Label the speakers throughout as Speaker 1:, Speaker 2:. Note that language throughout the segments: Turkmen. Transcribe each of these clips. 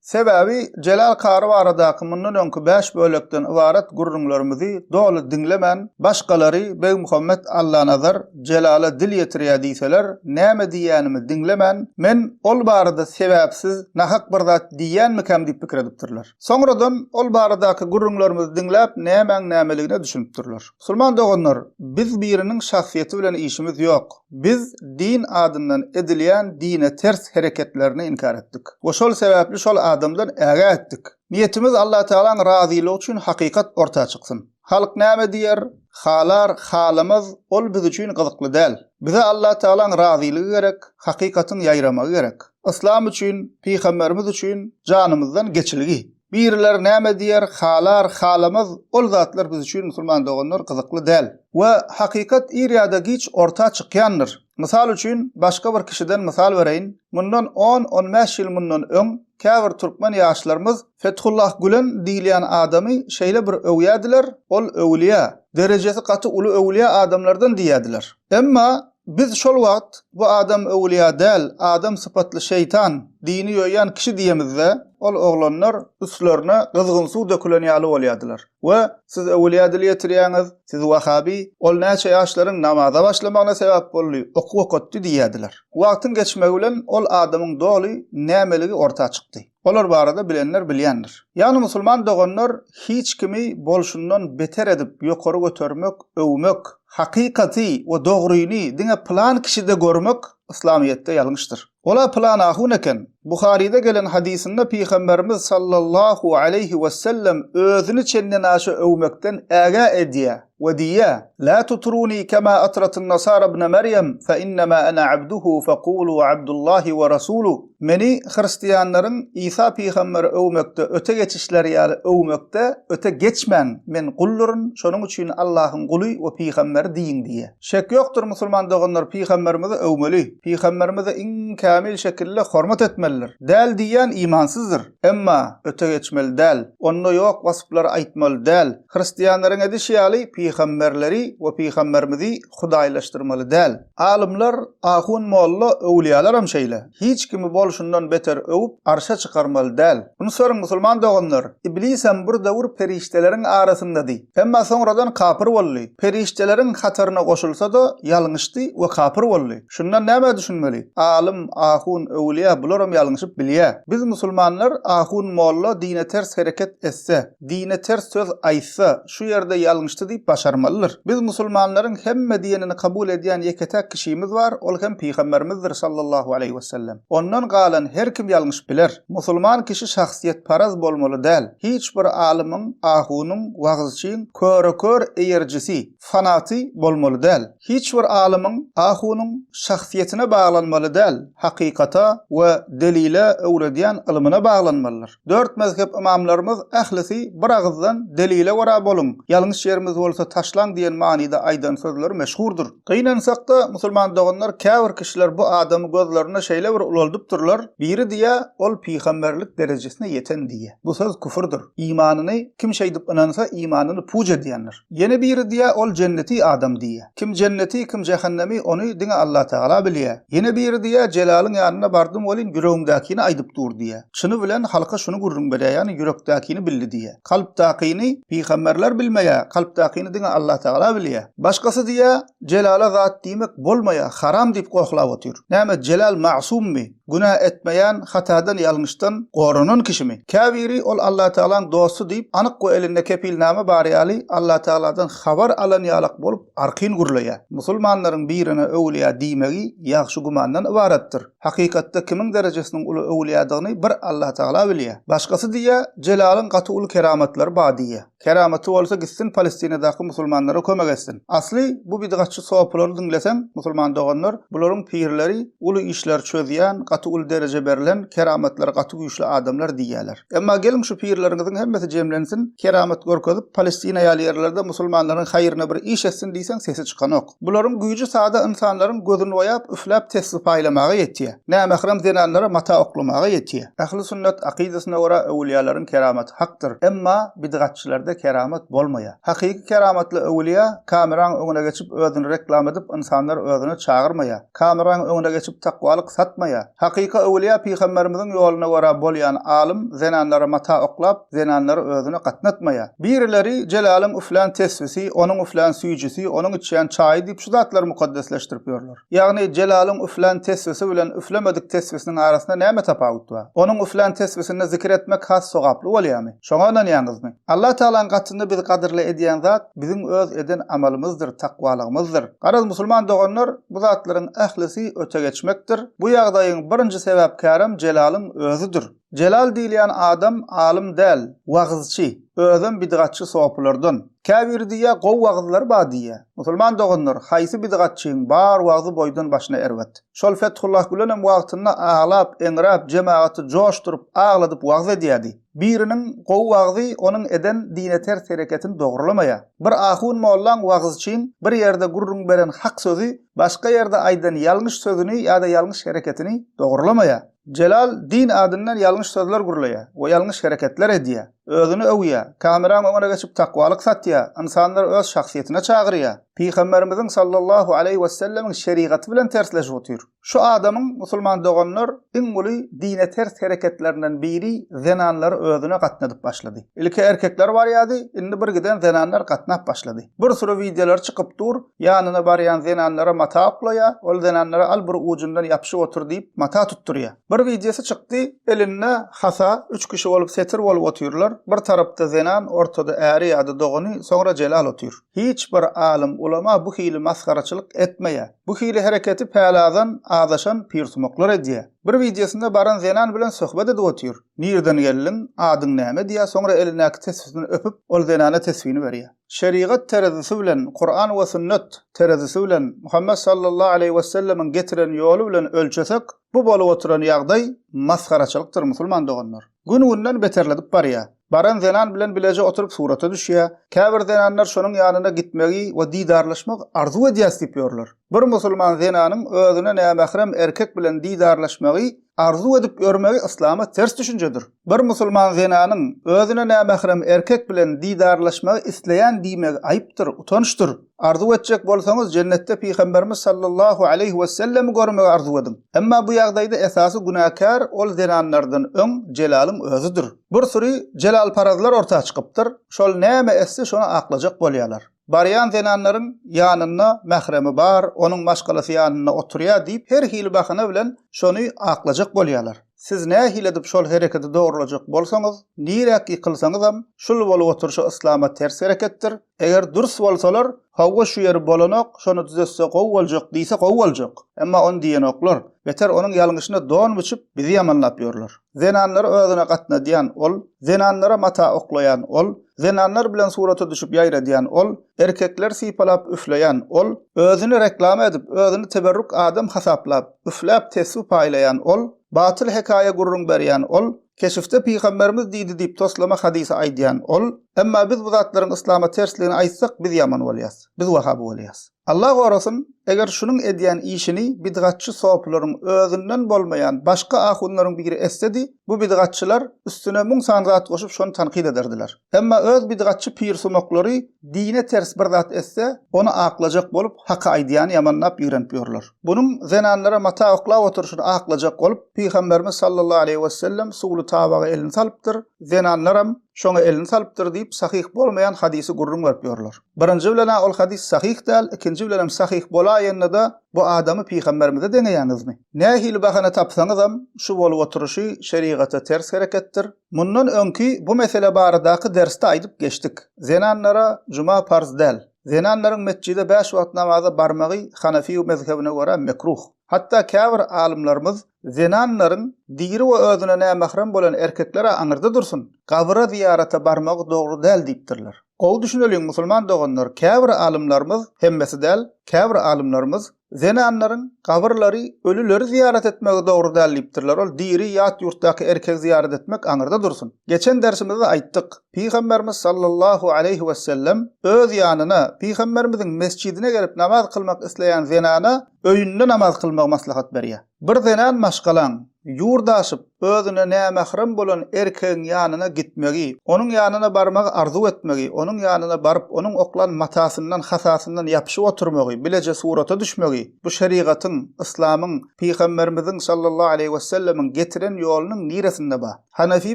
Speaker 1: Sebäbi Jelal kary baradaky mundan öňki bäş bölekden ybarat gürrüňlerimizi doly diňlemän, başgalary Begmuhammet Allanazar Jelala dil ýetirýär diýseler, näme diýýänimi diňlemän, men ol barada sebäpsiz, nahak bir zat diýýänmikäm diýip pikir edipdirler. Soňradan ol baradaky gürrüňlerimizi diňläp, nämäň nämeligine düşünipdirler. Musulman doganlar, biz biriniň şahsyýeti bilen işimiz ýok. Biz din adyndan edilýän dine ters hereketlerini inkär etdik we şol sebäpli şol adamdan ägä etdik. Niýetimiz Allatagalaň razylygy üçin hakykat orta çyksyn. Halk näme diýer, halar, halamaz, ol biz üçin gyzykly däl. Bize Allatagalaň razylygy gerek, hakykatyň ýaýramagy gerek. Yslam üçin, pygamberimiz üçin janymyzdan geçilgi. Biriler näme diýer, halar, halamaz, ol zatlar biz üçin, musulman doganlar, gyzykly däl. We hakykat ir ýa-da giç orta çykýandyr. Mysal üçin, başga bir kişiden mysal bereýin, mundan on, on bäş ýyl mundan öň, käbir türkmen ýaşlarymyz Fethullah Gülen diýilýän adamy şeýle bir öwýädiler, ol öwülýä, derejesi gaty uly öwülýä adamlardan diýýädiler. Emma Biz şol wagt, Bu adam öwülýa däl, adam sypatly şeýtan, dini ýoýýan kişi diýemizde, ol oglanlar üstlerine gyzgyn suw dökülen ýaly bolýadylar we Siz öwülýa dil ýetirýäňiz, siz wahabi, ol näçe ýaşlaryň namaza başlamagyna sebäp boldy, okuw okatdy diýýädiler. Wagtyň geçmegi bilen ol adamyň doly nämeligi orta çykdy. Olar barada bilenler bilýändir. Ýagny musulman doganlar hiç kimi bolşundan beter edip ýokary götermek, öwmek, hakykaty we dogryny diňe pylan kişide görmek yslamyýetde ýalňyşdyr. Ol-a pylan ahun eken. Buharyda gelen hadysynda Pygamberimiz sallallahu aleýhi wesellem özüni çendenaşa öwmekden ägä edýär. We diýýär, Lä tutruni kema atratyn nasara ibne Merýem, fe innema ene abduhu fekulu Abdullahi we rasulu, Meni hristiýanlaryň Isa pygamberi öwmekde öte geçişleri ýaly öwmekde öte geçmäň, men gulduryn, şonuň üçin Allahyň guly we pygamberi diýiň diýýär. Şek ýokdur musulman doganlar pygamberimizi öwmeli, pygamberimizi iň kämil şekilde hormat etmelidir. Däl diýýän imansyzdyr. Emma, öte geçmeli däl. Onda ýok waspylary aýtmaly däl. Hristianlaryň edişi ýaly pygamberleri we pygamberimizi hudaýlaşdyrmaly däl. Alymlar, ahun molla, öwlýalaram şeýle. Hiç kimi bolşundan beter öwüp arşa çykarmaly däl. Unutyberin musulman doganlar, Iblisem bir döwür perişdeleriň arasyndady. Emma soňradan kapyr boldy. Perişdeleriň hataryna goşulsada ýalňyşdy we kapyr boldy. Şundan nämä düşünmeli? Alym, ahun, öwlýa bularam ýalňyşyp bilýä. Biz musulmanlar ahun molla dine ters hereket etse, Dine ters söz aýtsa, şu ýerde ýalňyşdy diýip başarmalydyr. Biz musulmanlaryň hemme diýenini kabul edýän ýeke-täk kişimiz bar, ol hem Pygamberimizdir sallallahu aleýhi wesellem. Ondan galan her kim ýalňyşyp biler. Musulman kişi şahsyýetparaz bolmaly däl. Hiç bir alymyň, ahunyň, wagyzçyň köre-kör eýerjisi, fanaty bolmaly däl. Hiç bir alymyň, ahunyň şahsyýetine baglanmaly däl, hakykata we delile öwredýän ylmyna baglanmalydyr. Dört mezhep ymamlarymyz ählisi bir agyzdan delile görä boluň, ýalňyş ýerimiz bolsa taşlaň diýen manyda aýdan sözleri meşhurdyr. Gynansakda musulman doganlar käbir kişiler bu adamy gözlerinde şeýle bir ulaldypdyrlar, biri diýýä ol pygamberlik derejesine ýeten diýýä. Bu söz küfürdir. Imanyny kim şeýdip ynansa imanyny puç edýändir. Ýene biri diýýär, ol jenneti adam diýýär. Kim jenneti, kim jähennemi, ony diňe Allatagala bilýär. Ýene biri diýýär, Jelalyň ýanyna bardym welin, ýüregimdäkini aýdyp dur diýýär. Çyny bilen halka şuny gürrüň berýär, ýagny ýürekdäkini bildi diýýär. Kalpdakyny pygamberler bilmeýär, kalpdakyny diňe Allatagala bilýär. Başgasy diýýär, Jelala zat diýmek bolmaýar, haram diýip gohlap otyr. Näme, Jelal magsummy? Günä etmeýän, hatadan, ýalňyşdan goranan kişimi? Käbiri ol Allatagalaň dosty diýip, anyk we elinde kepilnama bary ýaly, Allatagaladan habar alan ýalak bolup, arkin gürleýär. Musulmanlaryň birine öwülýä diýmegi ýagşy gümandan ybaratdyr. Hakykatda kimiň derejesiniň uly öwülýädigini bir Allatagala bilýär. Başgasy diýýä, Jelalyň gaty uly keramatlary bar diýýär. Keramaty bolsa gitsin palestinadaky musulmanlara kömek etsin. Asly bu bidgatçy sopulary diňleseň musulman doganlar bularyň pirleri uly işleri çözýän gaty uly dereje berlen keramatlary gaty güýçli adamlar diýýäler. Emma geliň şu pirleriňiziň hemmesi jemlensin keramat görkezip palestina ýaly ýerlerde musulmanlaryň haýryna bir iş etsin diýseň sesi çykanok. Bularyň güýji sada ynsanlaryň gözüni oýap, üfläp tesbi paýlamaga ýetýär. Nämähram zenanlara mata oklamaga ýetýär. Ähli sünnet akydasyna görä öwülýälaryň keramaty hakdyr. Emma bidgatçylarda keramat bolmaýar. Hakyky keramatly öwülýä kameraň öňüne geçip özüni reklam edip ynsanlar özüne çagyrmaýar. Kameraň öňüne geçip takwalyk satmaýa. Hakyky öwülýä pygamberimiziň ýoluna görä bolýan alym zenanlara mata oklap zenanlary özüne gatnatmaýa. Birileri Jelalyň üflän tesbisi, onuň üflän süýjisi, onuň içýän çaýy diýip şu zatlary mukaddesleşdirip ýörler. Ýagny Jelalyň üflän tesbisi bilen üflemedik tesbisiniň arasynda näme tapawut bar? Onuň üflän tesbisinde zikir etmek has sogaply bolýamy? Şoňa ynanýaňyzmy? Allah Tagalaň gatynda bizi gadyrly edýän zat biziň öz eden amalymyzdyr, takwalygymyzdyr. Garaz, musulman doganlar, bu zatlaryň ählisi ötegeçmekdir. Bu ýagdaýyň birinji sebäpkärem jelalyň özüdir. Jelal diýilýän adam alym däl, wagyzçy, özem bidgatçy sopylardan. Käbiri diýýär, gowy wagyzlar bar diýýär. Musulman doganlar, haýsy bidgatçyň bar wagzy boýdan başyna erbet. Şol Fethullah Gülenem wagtynda aglap, eňräp, jemagaty joşduryp, agladyp wagyz edýärdi. Biriniň gowy wagzy onuň eden dine ters hereketini dogrulamaýa. Bir ahun mollaň wagyz üçin bir ýerde gürrüň beren hak sözi başga ýerde aýdan ýalňyş sözüni ýa-da ýalňyş hereketini dogrulamaýa. Jelal din adyndan ýalňyş sözler gürleýä we ýalňyş hereketler edýä. Özüni öwýä, kameraň öňüne geçip takwalyk satýa, ynsanlary öz şahsyýetine çagyrýa. Pygamberimiziň sallallahu aleýhi wessellemiň şerigaty bilen tersleşip otyr. Şu adamyň, musulman doganlar, iň uly dine ters hereketlerinden biri zenanlary özüne gatnadyp başlady. Ilki erkekler barýardy, indi birgiden zenanlar gatnap başlady. Bir süri wideolar çykyp dur, ýanyna barýan zenanlara mata oklaýar, ol zenanlara al bir ujundan ýapyşyp otur diýip mata tutdurýar. Bir wideosy çykdy, elinde hasa, üç kişi bolup setir bolup otyrlar, bir tarapda zenan, ortada äri ýa-da dogany, soňra Jelal otyr. Hiç bir alym, ulama bu hili masgaraçylyk etmeýär. Bu hili hereketi päladan azaşan pirsumaklar edýär. Bir wideosynda baran zenan bilen söhbet edip otyr. Nirden geldiň, adyň näme diýýär, soňra elindäki tesbisini öpüp, ol zenana tesbini berýär. Şerigat terezisi bilen, Kuran we sünnet terezisi bilen, Muhammet sallallahu aleýhi wesellemiň getiren ýoly bilen ölçesek, bu bolup oturan ýagdaý masgaraçylykdyr musulman doganlar. Gün-günden beterledip barýar. Baran zenan bilen bileje oturyp surata düşýär. Käbir zenanlar şonuň ýanyna gitmegi we didarlaşmagy arzuw edýäs diýip ýörler. Bir musulman zenanyň özüne nämährem erkek bilen didarlaşmagy arzuw edip ýörmegi yslama ters düşünjedir. Bir musulman zenanyň özüne nämährem erkek bilen didarlaşmagy isleýän diýmegi aýypdyr, utançdyr. Arzuw etjek bolsaňyz, jennetde Pygamberimiz sallallahu aleýhi wesellemi görmegi arzuw ediň. Emma bu ýagdaýda esasy günäkär ol zenanlardan öň jelalyň özüdir. Bir süri jelalparazlar orta çykypdyr, şol näme etse şony aklajak bolýarlar. Barýan zenanlaryň ýanynda mähremi bar, onuň maşgalasy ýanynda oturýar diýip her hili bahana bilen şony aklajak bolýarlar. Siz nähili edip şol hereketi dogrulajak bolsaňyz, niräk ýykylsaňyzam, şul bolup oturyşy yslama ters hereketdir, Eger dürs bolsalar, Howwa şu ýeri bolanok, şony düzetse gowy boljak diýse gowy boljak. Emma ony diýenoklar. Beter onuň ýalňyşyna don biçip, bizi ýamanlap ýörler. Zenanlary özüne gatnadýan ol, zenanlara mata oklaýan ol, zenanlar bilen surata düşüp ýaýradýan ol, erkekleri sypalap üfleýän ol, özüni reklama edip, özüni teberrük adam hasaplap, üfläp tesbi paýlaýan ol, batyl hekaýa gürrüň berýän ol, Keşifde pygamberimiz diýdi diýip toslama hadysy aýdýan ol, emma biz bu zatlaryň yslama tersligini aýtsak biz ýaman bolýas, biz wahabi bolýas. Allah gorasyn, eger şunuň edýän işini bidgatçy sopylaryň özünden bolmaýan başga ahunlaryň biri etsedi, bu bidgatçylar üstüne müň sany zat goşup şony tankyt ederdiler. Emma öz bidgatçy pirsumaklary dine ters bir zat etse, ony aklajak bolup, Haky aýdýany ýamanlap ýigrenip ýörler. Bunuň zenanlara mata oklap oturyşyny aklajak bolup, Pygamberimiz sallallahu aleýhi wesellem suwly tabaga elini salypdyr, zenanlaram şoňa elini salypdyr diýip, sahyh bolmaýan hadysy gürrüň berip ýörler. Birinji bilen-ä ol hadys sahyh däl, ikinji bilenem sahyh bolaýanda-da bu adamy Pygamberimize deňeýäňizmi? Nähili bahana tapsaňyzam, şu bolup oturyşy şerigata ters hereketdir. Mundan öňki bu mesele baradaky dersde aýdyp geçdik. Zenanlara juma parz däl. Zenanlaryň metjide bäş wagt namaza barmagy hanefiý mezhebine görä mekruh. Hatda käbir alymlarymyz zenanlaryň diri we özüne nämährem bolan erkekler-ä aňyrda dursun, gabyra zyýarata barmagy dogry däl diýipdirler. Gowy düşüneliň musulman doganlar, käbir alymlarymyz, hemmesi däl, käbir alymlarymyz Zenanlaryň gabyrlary ölüleri zyýarat etmegi dogry däl diýipdirler, ol diri ýat ýurtdaky erkegi zyýarat etmek aňyrda dursun. Geçen dersimizde aýtdyk, Pygamberimiz sallallahu aleýhi wesellem öz ýanyna, Pygamberimiziň mesjidine gelip namaz kylmak isleýän zenana öýünde namaz kylmagy maslahat berýär. Bir zenan maşgalaň, ýurt aşyp, özüne nämährem bolan erkegiň ýanyna gitmegi, onuň ýanyna barmagy arzuw etmegi, onuň ýanyna baryp, onuň oklan matasyndan, hasasyndan ýapyşyp oturmagy, bileje surata düşmegi, bu şerigatyň, yslamyň, Pygamberimiziň sallallahu aleýhi wesellemiň getiren ýolunyň niresinde ba? Hanefi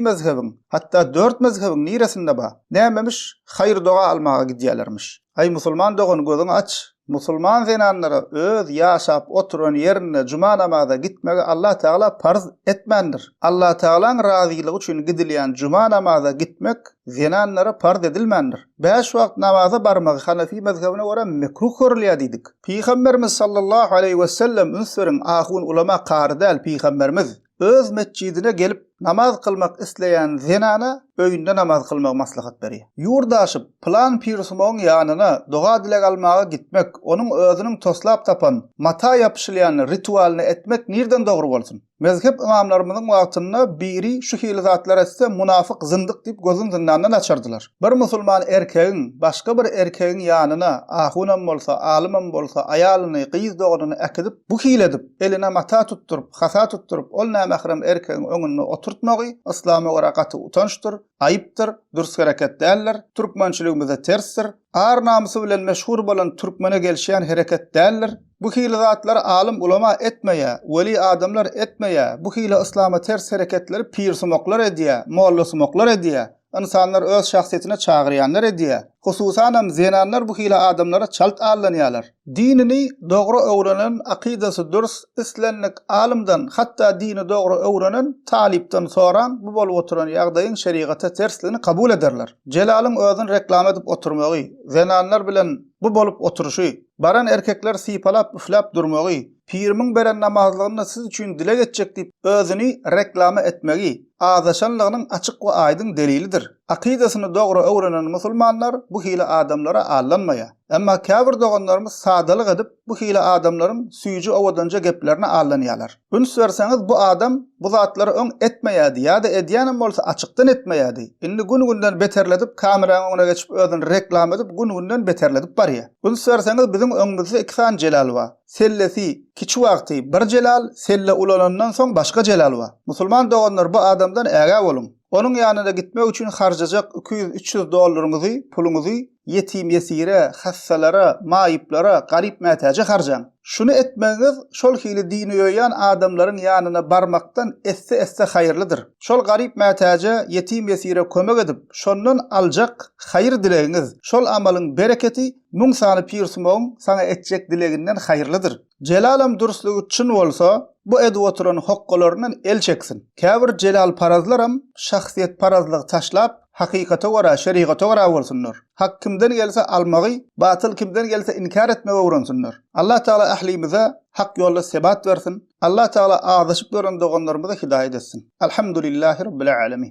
Speaker 1: mezhebiň, hatda dört mezhebiň niresinde ba? Nämemiş, haýyr-doga almaga gidýälermiş. Aý, musulman dogan, gözüňi aç! Musulman zenanlara öz ýaşap oturan ýerinde juma namaza gitmegi Allah Tagala parz etmändir. Allah Tagalaň razylygy üçin gidilýän juma namaza gitmek zenanlara parz edilmändir. Bäş wagt namaza barmagy hanefi mezhebine görä mekruh görülýär diýdik. Pygamberimiz sallallahu aleýhi wesellem üns beriň ahun ulama kary däl pygamberimiz. öz metjidine gelip namaz kylmak isleýän zenana öýünde namaz kylmagy maslahat berýär. Ýurt aşyp, pylan pirsumagyň ýanyna doga-dileg almaga gitmek, onuň özüniň toslap tapan mata ýapyşylýan ritualyny etmek nirden dogry bolsun? Mezhep ymamlarymyzyň wagtynda biri şu hili zatlar etse munafyk, zyndyk diýip gözün zyndandan açardylar. Bir musulman erkegiň başga bir erkegiň ýanyna, ahunam bolsa, alymam bolsa, aýalyny, gyz doganyny äkidip, bu hili edip, eline mata tutduryp, hata tutduryp, ol nämährem erkegiň öňünde oturtmagy yslama görä gaty utançdyr, aýypdyr, dürs hereket däldir, türkmençiligimize tersdir, ar-namysy bilen meşhur bolan türkmene gelişýän hereket däldir. Bu hili zatlary alym-ulama etmeýär, weli adamlar etmeýär, bu hili yslama ters hereketleri pirsumaklar edýär, mollasumaklar edýär. Ynsanlar öz şahsyýetine çagyrýanlar edýä. Hususanam zenanlar bu hili adamlara çalt aldanýalar. Dinini dogry öwrenen, akydasy dürs, islendik alymdan, hatda dini dogry öwrenen talypdan soraň, bu bolup oturan ýagdaýyň şerigata tersligini kabul ederler. Jelalyň özüni reklama edip oturmagy, zenanlar bilen bu bolup oturşy, baran erkekleri sypalap üfläp durmagy, Pirimiň beren namazlygyny siz üçin dileg etjek diýip özüni reklama etmegi, azaşanlygynyň açyk we aýdyň delilidir. Akydasyny dogry öwrenen musulmanlar bu hili adamlara allanmaýar. Emma käbir doganlarymyz sadalyk edip, bu hili adamlaryň süýji owadanja geplerine allanýarlar. Üns berseňiz bu adam bu zatlary öň etmeýärdi ýa-da edýänem bolsa açykdan etmeýärdi. Indi gün-günden beterledip kameranyň öňüne geçip özüni reklama edip gün-günden beterledip barýar. Üns berseňiz biziň öňümizde iki sany Jelal bar. Sellesi, kiçi wagty bir jelal, selle ulanandan soň başga jelal bar. Musulman doganlar bu adamdan ägä boluň. Onuň ýanyna gitmek üçin harjajak iki ýüz, üç ýüz dollaryňyzy, puluňyzy ýetim-ýesire, hassalara, maýyplara, garyp mätäje harjaň. Şuny etmegiňiz şol hili dini ýoýan adamlaryň ýanyna barmakdan esse-esse haýyrlydyr. Şol garyp mätäje, ýetim-ýesire kömek edip, şondan aljak haýyr-dilegiňiz, şol amalyň bereketi Müň sany pirsumagyň saňa etjek dileginden haýyrlydyr. Jelalam durslygy çyn bolsa, bu edip oturan hokgalaryndan el çeksin. Käbir jelalparazlaram şahsyýetparazlygy taşlap, hakykata görä, şerigata görä bolsunlar. Hak kimden gelse almagy, batyl kimden gelse inkär etmegi öwrensinler. Allatagala ählimize hak ýolda sebat bersin. Allatagala azaşyp ýören doganlarymyzy hidaýat etsin. Alhamdulillahirabbilälemin.